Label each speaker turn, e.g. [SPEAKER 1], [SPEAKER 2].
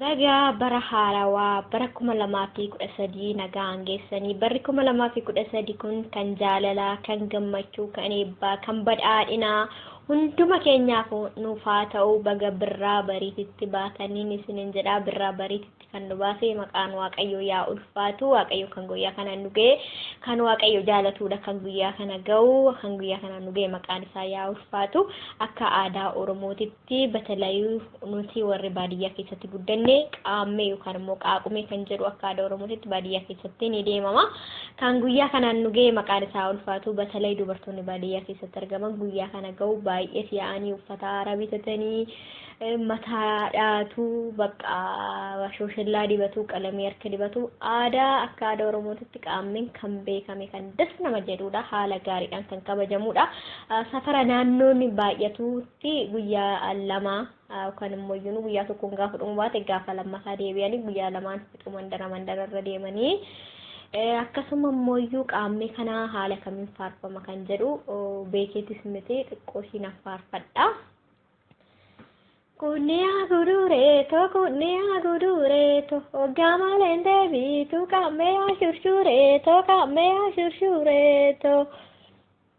[SPEAKER 1] Baga bara haarawaa bara 2013 nagaan geessanii barri 2013 kun kan jaalalaa, kan gammachuu, kan eebbaa, kan badhaadhinaa hunduma keenyaafuu nuuf haa ta'u baga birraa bariititti baataniin isiniin jedhaa birraa bariititti kan nu baase maqaan waaqayyoo yaa ulfaatu waaqayyo kan guyyaa kana nu ga'e kan waaqayyo jaalatuudha kan guyyaa kana ga'u kan guyyaa kana nu ga'e maqaan isaa yaa ulfaatu akka aadaa oromootitti ti batalayuu nuti warri baadiyyaa keessatti guddanne qaammee yookaan immoo qaaqumee kan jedhu akka aadaa oromootitti baadiyyaa keessatti ni deemama kan guyyaa kanaan nu ga'e maqaan isaa ulfaatu batalay dubartoonni baadiyyaa keessatti argaman guyyaa kana ga'u baay'ee si'aanii uffata haaraa bitatanii eh, mataa dhaatu bakka shooshellaa dibatu qalamii harka dibatu aadaa akka aadaa oromootitti qaammeen kan beekame kan das nama jedhudha haala gaariidhaan kan kabajamudha Ah, safara naannoon baay'atu tti guyyaa lama yookaan immoo iyyuu guyyaa tokkoon gaafa dhumu baate gaafa lammataa deebi'anii guyyaa lamaan fixu mandara mandara irra deemanii akkasuma immoo iyyuu qaammee kana haala kamiin faarfama kan jedhu beekeetis miti xiqqoo ishiin faarfadha. Kunniyaa guduree too kunniyaa guduree too oggaa maleen deebiitu qaammee ashurshuree too qaammee ashurshuree too.